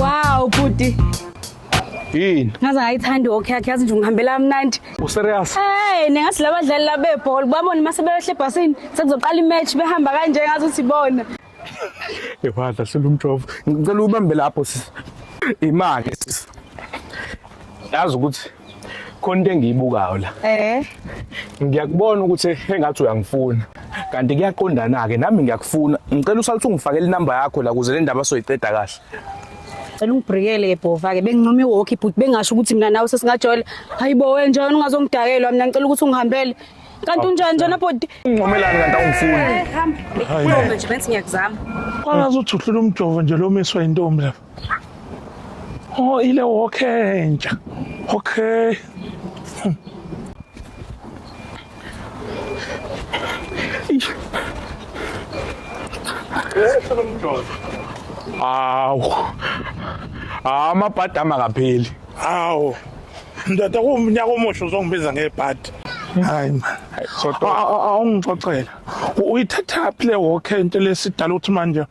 Wow, bhuti. Yini? Ngaze ngayithanda okay yakhe yazi nje ungihambela kamnandi. U serious? Hey, ningathi labadlali labebhola babona uma sebeyoshle ebhasini sekuzoqala imatch behamba kanje ngazi ukuthi bona. Ewadla selumjovo. Ngicela ubambe lapho sisi. Imali sisi. Yazi ukuthi khona into engiyibukayo la eh ngiyakubona ukuthi engathi uyangifuna kanti kuyaqondana ke nami ngiyakufuna ngicela usaluthi ungifakele inamba yakho la kuze le ndaba soyiqeda kahle cela ungibhrikele ke bhova ke bengincoma iwalkie but bengasho ukuthi mina nawe sesingajola hayibo wena njalo ungazongidakelwa mina ngicela ukuthi ungihambele kanti unjani njena bhodi uncomelani kanti awungifuni eh, hamba nje bensi ngiyakuzama kwalazi uthi uhlula umjovo nje lomiswa intombi lapha Oh, ile woke entsha. Okay. Awu. Ah, amabhadi amakapheli. Awu. Ndoda kumnyaka omusha uzongibiza ngebhadi. Hayi man. Sodwa awungixoxela. Uyithathaphi le woke into lesidala uthi manje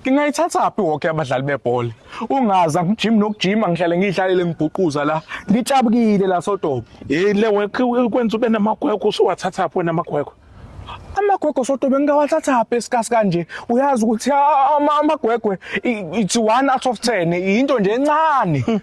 ngingayithathaphi woke abadlali bebhola ungazi angijimi nokujima ngihlale ngiyihlalele ngibhuquza la ngitshabukile la sodobo yile kwenza ube namagwegwe usuwathathaphi wena amagwegwe amagwegwe sodobe ngingawathathaphi esikasi kanje uyazi ukuthi amagwegwe it's one out of ten yinto nje encane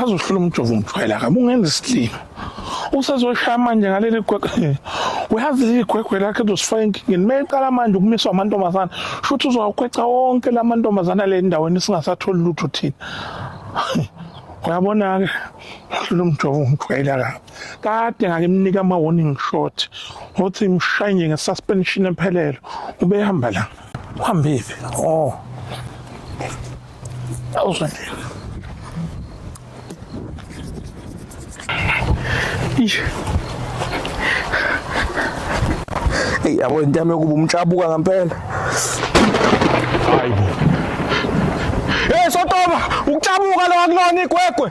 azohlula umjovo umthwela kabi ungenza isilima usezoshaya manje ngaleli gwegwe uyazi leli gwegwe lakhe lizosifaka enkingeni uma eqala manje ukumiswa amantombazana shuthi uzowakweca wonke la mantombazana le ndaweni singasatholi lutho thina uyabona-ke hlula umjovo umthwela kabi kade ngakimnika ama warning shot ngothi mshaye nje nge suspension emphelelo ubehamba la uhambephi oh awuzwele ish Hey yabo into yami yokuba umtshabuka ngempela. Hayibo. Hey sotoba, ukuthabuka lo akulona igwegwe.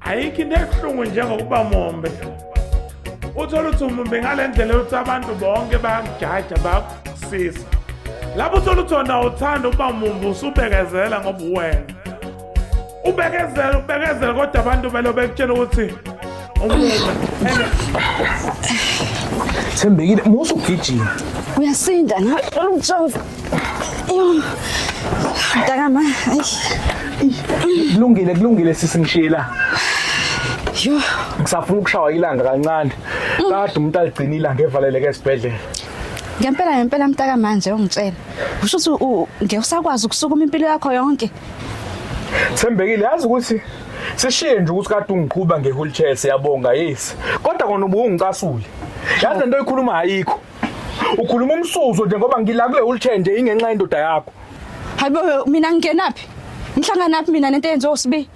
ayikho into ebuhlungu njengokuba mombe uthole ukuthi umumbe ngale ndlela yokuthi abantu bonke bayakujaja bayakusisa lapho uthole ukuthi wona uthanda ukuba mumbe usubekezela ngoba uwena ubekezela ubekezela kodwa abantu belo bekutshela ukuthi thembekile musa ugijima uyasinda nalomjova Ayun. Taka ma. Ay. Kulungile, kulungile sisi ngishila. Yo. Ngisafuna ukushawa ilanga kancane. Kade umuntu aligcina ilanga evaleleke esibhedlela. Ngempela ngempela mtaka manje ungitshela. Usho ukuthi ngeke usakwazi ukusukuma impilo yakho yonke. Thembekile yazi ukuthi sishiye nje ukuthi kade ungiqhuba nge-wheelchair siyabonga yes kodwa kona ubungicasule yazi lento oyikhuluma ayikho Ukhuluma umsuzo nje ngoba ngila kule wheelchair nje ingenxa yendoda yakho. Hayibo mina ngingenaphi? Ngihlanganaphi mina nento eyenziwa uSibi?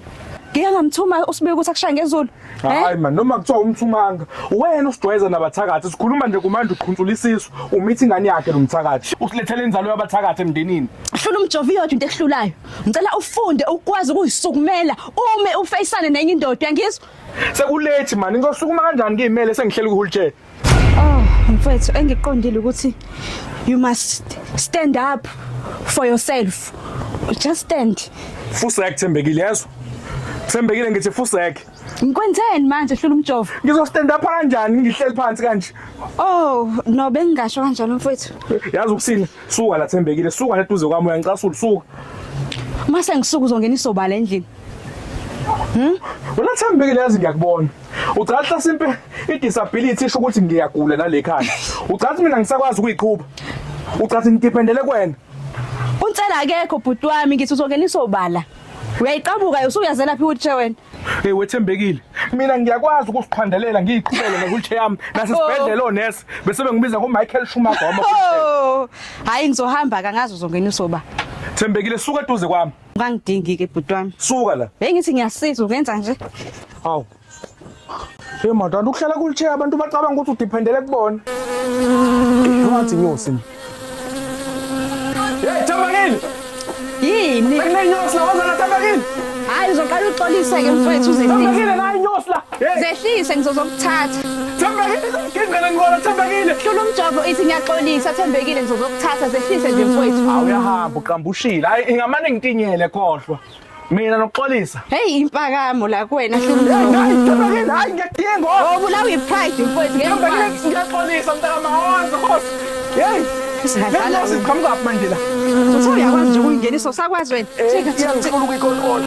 Ngeke ngamthuma uSibi ukuthi akushaye ngezulu. Eh? Hayi man noma kuthiwa umthumanga wena usidwayeza nabathakathi sikhuluma nje kumanje uqhuntsula isisu umithi ingane yakhe lo mthakathi usilethela inzalo yabathakathi emndenini hlula umjovo iyodwa into ehlulayo ngicela ufunde ukwazi ukuyisukumela ume ufeyisane nenye indoda ngizwa sekulethi mani ngizosukuma kanjani ngiyimele sengihlela ukuhulutshela Oh, mfethu engiqondile ukuthi you must stand up for yourself. Just stand. Fusek Thembekile yezwa. Thembekile ngithi Fusek. Ngikwenzeni manje hlula umjovo? Ngizo stand up kanjani ngihleli phansi kanje? Oh, no bengingasho kanjalo mfethu. Yazi ukusini suka la Thembekile, suka la duze kwami uyangicasula suka. Mase ngisuku uzongena isobala endlini. Hmm? Wena Thembekile yazi ngiyakubona. Ucathi hlasimpe i-disability isho ukuthi ngiyagula nalekhaya. Ucathi mina ngisakwazi ukuyiqhuba. Ucathi ngidependele kwena. Unsela akekho bhuti wami ngithi uzongena isobala. Uyayiqabuka usuyazela phi wheelchair wena? Hey wethembekile. Mina ngiyakwazi ukusiqhandelela ngiyiqhubele newheelchair yami nasesibhedlela onesi bese bengibiza ngo Michael Schumacher wama. Oh! Hayi ngizohamba kangazi uzongena isobala. Thembekile suka eduze kwami. Ungangidingi ke bhuti wami. Suka la. Hey ngithi ngiyasiza ukenza nje. Hawu. Hey madala ukuhlala kulithe abantu bacabanga ukuthi udependele kubona. Ngathi nyosi. Hey Thambakini. Yini? Benginenyosi la wazana Thambakini. Hayi uzoqala uxolise ke mfowethu uze. Thambakini la inyosi la. Zehlise ngizozokuthatha. Thembekile ngingqele ngibona Thembekile. Hlula umjovo ithi ngiyaxolisa Thembekile ngizozokuthatha zehlise nje mfowethu. Hawu uyahamba uqambushile. Hayi ingamane ngitinyele kohlwa. Mina nokuxolisa. Hey impakamo la kuwena hlula umjovo. Thembekile hayi ngiyadinga. Oh bulawa ipride mfowethu ngiyakwazi. Thembekile ngiyaxolisa mntaka mahoza hosi. Hey. Singadlala siqhamuka manje la. Uthe uyakwazi nje ukuyingenisa usakwazi wena. Thika thika. Ngifuna ukuyikontrola.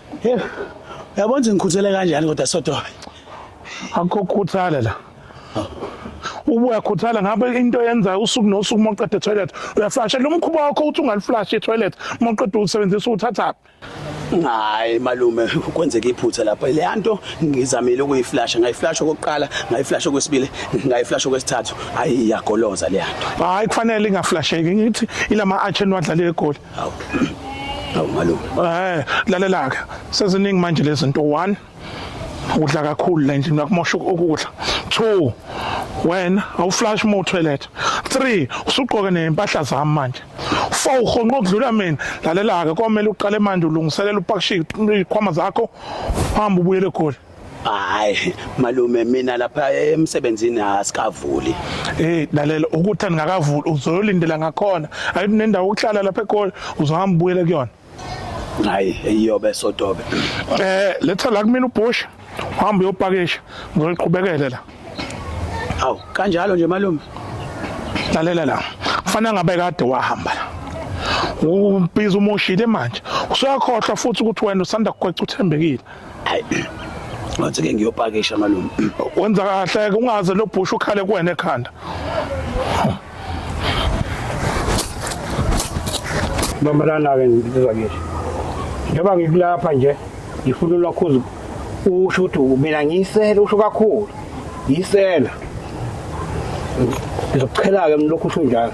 Hey, uyabona ukuthi ngikhuthele kanjani kodwa Sotobe? Akho khuthala la. Ubuya khuthala ngabe into yenza usuku nosuku uma uqeda toilet uyaflasha lo mkhuba wakho uthi ungaliflash etoilet uma uqeda usebenzisa uthathaphi. Hayi malume kwenzeka iphutha lapha leya nto ngizamile ukuyiflasha ngayiflasha okokuqala ngayiflasha okwesibili ngayiflasha okwesithathu hayi iyagoloza leya nto. Hayi kufanele ingaflasheki ngithi ilama arch enwadlale egoli. Hawu. Hawu malume. Eh, lalela ke. Seziningi manje lezinto 1 udla kakhulu la endlini yakumosha ukudla 2 wena awuflash uma utoilet 3 usugqoke nempahla zami manje 4 uhonqa ukudlula mina lalela-ke komele uqale manje ulungiselela upakishe izikhwama zakho uhambe ubuyele egoli hayi malume mina lapha emsebenzini asikavuli hey lalela ukuthi angakavuli uzoyolindela ngakhona ayithi nendawo ukuhlala lapha eGoli uzohamba ubuyele kuyona hayi iyobe sotobe eh letha la kumina ubhosha uhamba uyopakisha ngizoliqhubekele la aw kanjalo nje malume lalela la kufanele ngabe kade wahamba la ubiza umoshile manje usuyakhohlwa futhi ukuthi wena usanda kugweca uthembekile hayi ngathi ke ngiyopakisha malume wenza kahle ke ungaze lobhusha ukhale kuwena ekhanda Mama lana ke ngizizwa ngisho njengoba ngikulapha nje ngifuna ulokhuza usho ukuthi mina ngiyisela usho kakhulu yisela ngizokuchela-ke mlokhu usho njalo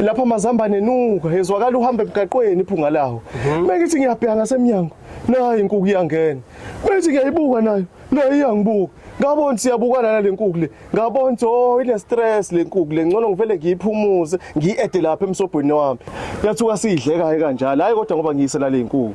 lapha amazambane enuka ezwakala uhamba emgaqweni iphunga lawo mhm. bengithi ngiyabheka ngasemnyango nayo inkuku iyangena bengithi ngiyayibuka nayo nayo iyangibuka ngabona siyabukana nale nkuku le ngabona oh ine stress le nkuku le ngcono ngivele ngiyiphumuze ngiyiede lapha emsobhweni wami yathuka siyidleka kanjalo hayi kodwa ngoba ngiyise nale nkuku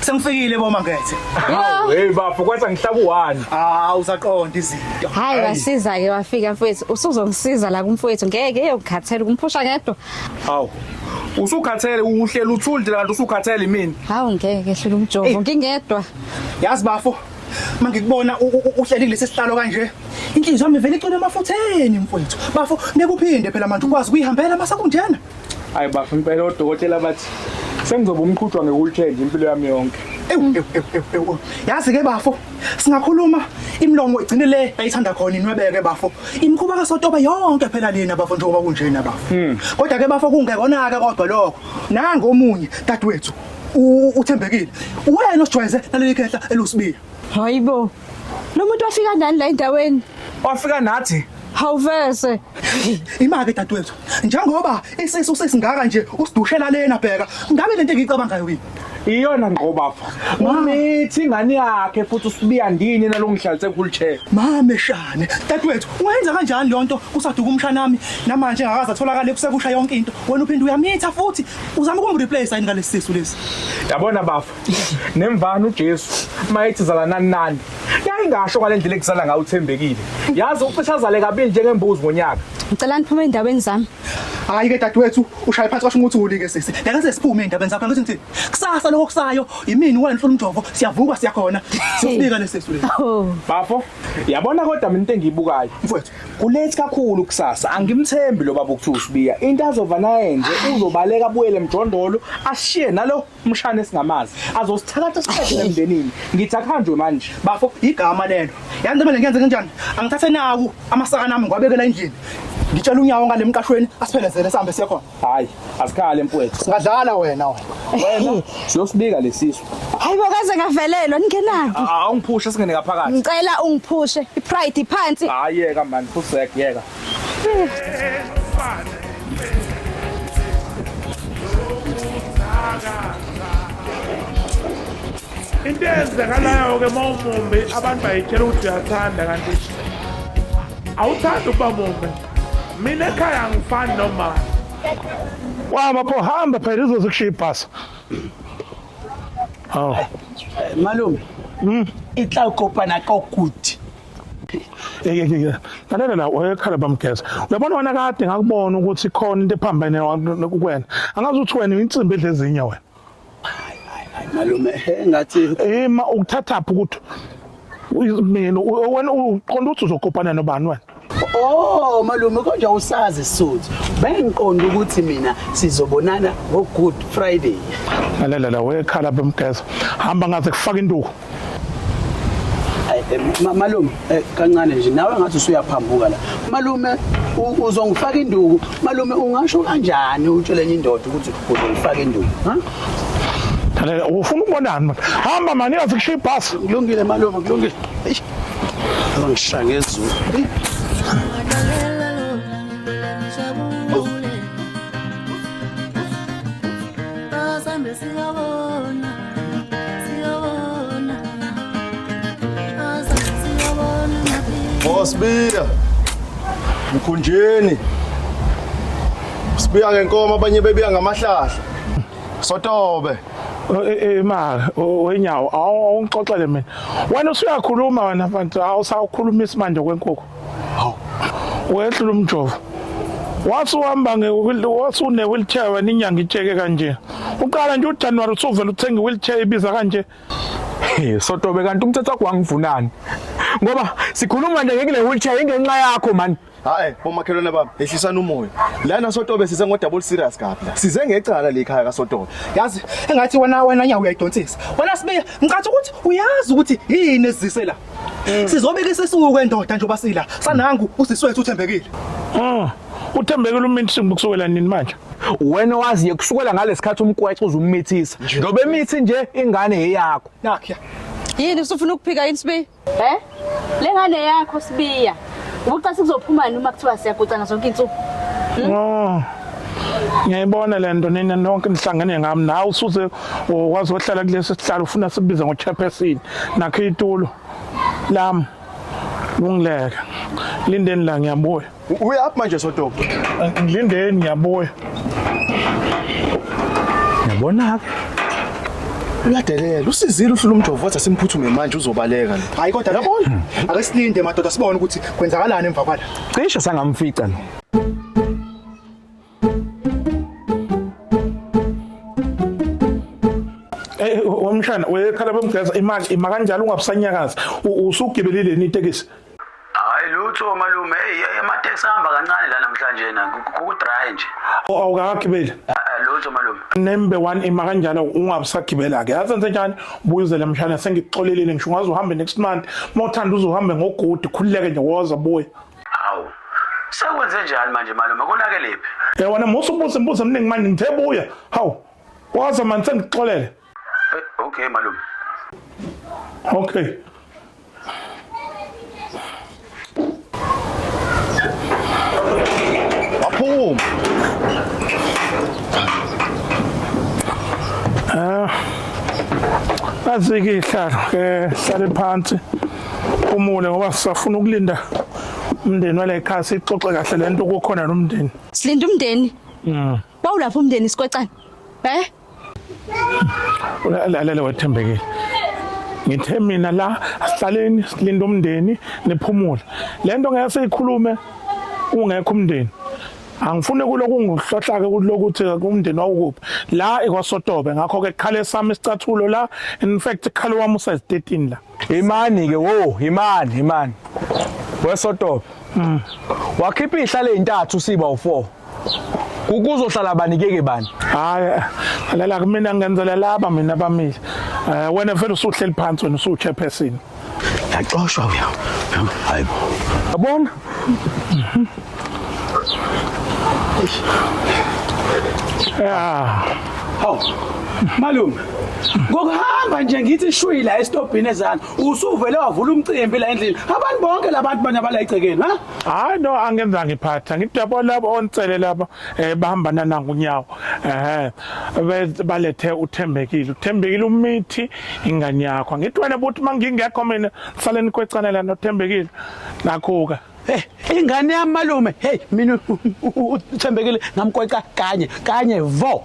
Sengifikile bo Mangethe. Hawu hey bafo kwathi angihlaba u1. Ah usaqonda izinto. Hayi wasiza ke wafika mfowethu usuzongisiza la kumfowethu ngeke eyokukhathela kumphusha ngedwa. Hawu usukhathele uhlela uthuli nje kanti usukhathele mina. Hawu ngeke hlula umjovo ngingedwa. Yazi bafo mangikubona uhleli kulesi sihlalo kanje inhliziyo yami vele icona emafutheni mfowethu bafo nekuphinde phela manje ukwazi kuyihambela masakunjena Hayi bafo impela odokotela bathi sengizoba umqhutshwa ngekulithenje impilo yami yonke. Ewu, ewu, ewu, ewu, ewu. yazi ke bafo singakhuluma imlomo igcine le ayithanda khona inwebeke bafo imkhuba kasotobe yonke phela lena bafo njengoba kunjena bafo kodwa ke bafo kungekona-ke kodwa lokho nangomunye dadewethu u- uthembekile wena osijwayeze naleli khehla elusibiya Hayi bo. Lo muntu wafika nani la endaweni? Wafika nathi. Hawuvese. Imake dadewethu. Njengoba isisu sesingaka nje usidushela lena bheka. Ngabe lento engiyicabangayo yini? Iyona ngqo bafo. Umithi ingane yakhe futhi usibiya ndini nalongihlalise kuwheelchair. Mame shane. Dadewethu, ungenza kanjani lonto kusaduka umshana nami? Namanje ngakaza atholakala ekusekusha yonke into. Wena uphinde uyamitha futhi uzama ukumreplace yini ngalesisu lesi. Yabona bafo. nemvana uJesu mayethi zalanani nani yayingasho ngale ndlela ekuzala ngayo uthembekile yazi ucisha azale kabili njengembuzi ngonyaka ngicela niphume ey'ndaweni zami hayi ke dadewethu ushaye phansi kwasho ukuthi ulike sisi ngeke sesiphume ey'ndabeni zakho ukuthi ngithini kusasa lokho kusayo yimini wena hlula umjovo siyavuka siyakhona siyosibika lesesi lesi oh bafo yabona kodwa mina into engiyibukayo mfowethu kulethi kakhulu kusasa angimthembi lo baba ukuthiwa usibiya into azova naye nje uzobaleka abuyele emjondolo ashiye nalo umshana esingamazi azosithakatha siqedile emndenini ngithi akuhanjwe manje bafo igama lelo yazi ntombi ngiyenze kanjani angithathe naku amasakana ami ngiwabekela endlini ngitshela unyawo ngale mqashweni asiphelezele sihambe siye khona hayi asikhale mfowethu singadlala wena wena wena siyosibika lesisu hayi bokaze ngavelelwa ningenaphi awungiphushe singene ngaphakathi ngicela ungiphushe ipride iphansi hayi yeka mani fusek yeka into eyenzekalayo-ke uma umumbi abantu bayitshela ukuthi uyathanda kanti awuthandi ukuba mumbi mina ekhaya angifani nomali wama pho hamba phela izoze kushiya ibhasa awu malume mm. itla ukopana kokuthi lalela la wayekhala bamgeza uyabona wena kade ngakubona ukuthi khona into ephambene kuwena angazi ukuthi wena insimbi edla ezinye wena malume engathi ema ukuthathaphi ukuthi mina wena uqonda ukuthi uzokopana nobani wena Oh malume konje usazi suthi bengiqonda ukuthi mina sizobonana ngo Good Friday. Lalela la wekhala bemgeza hamba ngaze kufaka induku. Eh, malume eh, kancane nje nawe ngathi usuyaphambuka la malume uzongifaka induku malume ungasho kanjani utshele enye indoda ukuthi uzongifaka induku ha Thalela ufuna ukubonani manje hamba mani yazi kushiya ibhasi kulungile malume kulungile eish ngishaya ngezulu Sambesi yabo Osibiya mkhunjeni sibiya ngenkomo abanye bebiya ngamahlahla sotobe imali eh, eh, wenyawo awungixoxele mina wena usuyakhuluma wena mfana awusawukhulumisi manje kwenkukhu hawu wehlula umjovo wathi uhamba wathi une-wheelchair wena inyanga itsheke kanje uqala nje ujanuwari usuvele uthenga i-wheelchair ibiza kanje sotobe kanti umthetho wakho wangivunani ngoba sikhuluma nje ngekule wheelchair ingenxa yakho mani hayi bomakhelwane bami ehlisani umoya lana sotobe size ngodouble serious kabi la size ngecala le khaya kasotobe yazi engathi wena wena nyawo uyayidonsisa wena sibe ngicathi ukuthi uyazi ukuthi yini ezise la Mm. Sizobika isisuku kwendoda nje obasila. Sanangu usisi wethu uthembekile. Mm. Uthembekile uminsingu kusukela nini manje? Wena waziye kusukela ngalesikhathi umkwexe uzumithisa. Ngoba emithi nje ingane yeyakho. Nakya. Yini usufuna ukuphika yini sibi? Eh? Lengane yakho sibiya. Ubucasi kuzophumani uma kuthiwa siyagucana zonke insuku? Hmm? Oh. Ngiyayibona le nto nina nonke nihlangene ngami nawe usuze wazi ohlala kulesi sihlalo ufuna sibize ngochairperson nakho itulo lami lungileke lindeni la ngiyabuya uyaphi manje sotopo ngilindeni ngiyabuya Yabona-ke uyadelela usizile uhlula umjovo wathi asimphuthume manje uzobaleka lo hayi kodwa yabona ake silinde madoda sibone ukuthi kwenzakalani emva kwala cishe sangamfica lo Eh wamshana uyekhala bemgeza imali ima kanjalo ungabusanyakazi usugibelile ni tekisi hayi lutho malume eyi amateksi ahamba kancane la namhlanje na kudry nje awukagibeli Ah, ah, lutho malume nembe one ima kanjalo ungabusagibela-ke yazi enze njani buyuzele mshana sengikuxolelile ngisho ungaze uhambe next month uma uthanda uze uhambe ngogudi khululeke nje woza buya hawu sekwenze njani manje malume konakelephi yabona musa ubuza imibuzo eminingi manje ngithe buya hawu woza mani sengikuxolele Okay malume. Okay. Waphuma. Ah. Azike ihlalo ke hlale phansi. Umule ngoba sisafuna ukulinda umndeni wale khaya sixoxe kahle lento kukhona nomndeni. Silinda umndeni. Mm. Bawulapha umndeni sikwecane. Eh? Lalela wethembekile. Ngithe mina la asihlaleni silinde umndeni niphumule. Lento ngeke siyikhulume ungekho umndeni. Angifune kuloku ngihlohlake kulokuthi umndeni wawukuphi. La ikwasotobe ngakho ke qhale sami isicathulo la in fact qhale wami usezitini la. Imani ke wo, imani, imani. Wesotope. Mm. Wakhipha ihlale ezintathu siba u4. Kukuzohlala bani keke bani? Hayi, lala kumina ngenzela laba mina bamile. Eh wena vele usuhleli phansi wena usu chairperson. Yaxoshwa uya. Hayibo. Yabona? Yeah. Hawu. Malume. Ngokuhamba nje ngithi shwi la estobhini ezana. Usuvele wavula umcimbi la endlini. Abantu bonke labantu banya bala egcekeni, ha? Hayi no angenza ngiphatha. Ngidabo labo onsele laba eh bahambana nangu nyawo. Eh be- balethe uthembekile. Uthembekile umithi ingane yakho. Ngithwene buthi mangingekho mina sale nikwecane la nothembekile. Nakhuka. Eh, ingane yami malume hey mina uthembekile ngamkweca kanye kanye vo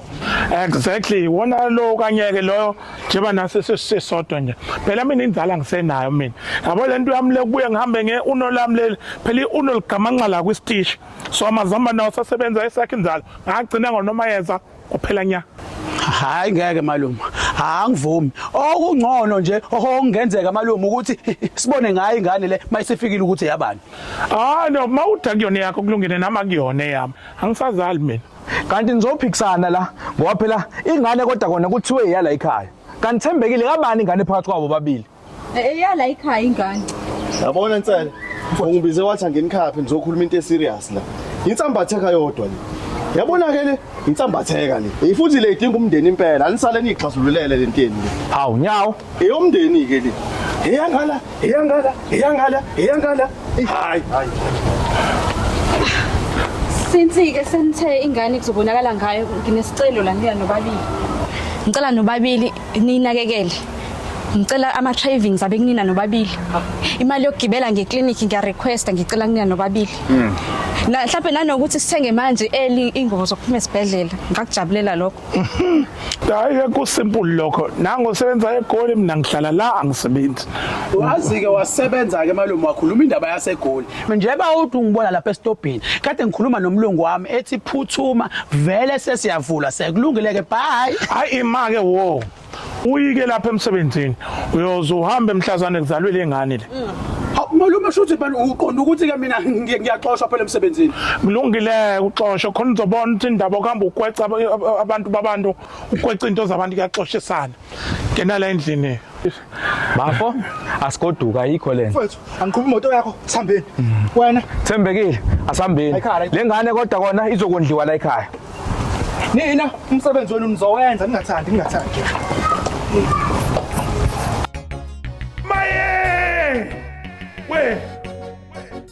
exactly wona lo kanyeke loyo njengoba nase sesisodwa nje phela mina inzala ngisenayo mina yabo lento yami lekubuye ngihambe nge uno lami leli phela uno ligamanxa la kwistishi so amazamba nawo sasebenza esakhe inzalo ngagcina ngonoma yeza kwaphela nya hayi ngeke malume angivumi okungcono nje okungenzeka malume ukuthi sibone ngayo ingane le mayisefikile ukuthi yabani ah no mawuda kuyona yakho kulungene nama kuyona yami angisazali mina kanti nizophikisana la ngoba phela ingane kodwa kona kuthiwe iyala ekhaya kanithembekile kabani ingane phakathi kwabo babili Eya la ikhaya ingane. Yabona nsele. Ungibize wathi anginikhaphe ngizokhuluma into eserious la. Insambatheka yodwa le. Yabona ke le insambatheka le. Ifuthi le idinga umndeni impela. Anisale nixazululele le nteni le. Hawu nyawo. Eyomndeni ke le. Eyangala, eyangala, eyangala, eyangala. Hayi, hayi. Since ke senithe ingane kuzobonakala ngayo nginesicelo la ngiya nobabili. Ngicela nobabili niyinakekele ngicela ama-travings abe kunina nobabili imali yokugibela ngeklinikhi ngiyarequesta ngicela kunina nobabili hmm. mhlawumbe nanokuthi sithenge manje eli ingubo zokuphuma esibhedlela ngakujabulela lokho hayi kusimple lokho nango usebenza egoli mina ngihlala la angisebenzi wazi-ke wasebenza-ke malume wakhuluma indaba yasegoli Njeba uthi ungibona lapha esitobhini kade ngikhuluma nomlungu wami ethi phuthuma vele sesiyavula sekulungile ke bye hayi imake wo uyike lapha emsebenzini uyoze uhambe emhlazane kuzalwe lengane le Malume shuthi phela uqonda ukuthi ke mina ngiyaxoshwa phela emsebenzini. Kulungile uxoshwe khona uzobona ukuthi indaba okuhamba ukweca abantu babantu ukweca into zabantu kuyaxoshisana. Ngena la endlini. Bafo asigoduka ayikho lento. Mfethu angiqhuba imoto yakho sihambeni. Wena Thembekile asihambeni. Ekhaya. Lengane kodwa kona izokondliwa la ekhaya. nina umsebenzi wenu nizowenza ningathandi ningathandi. Maye! We!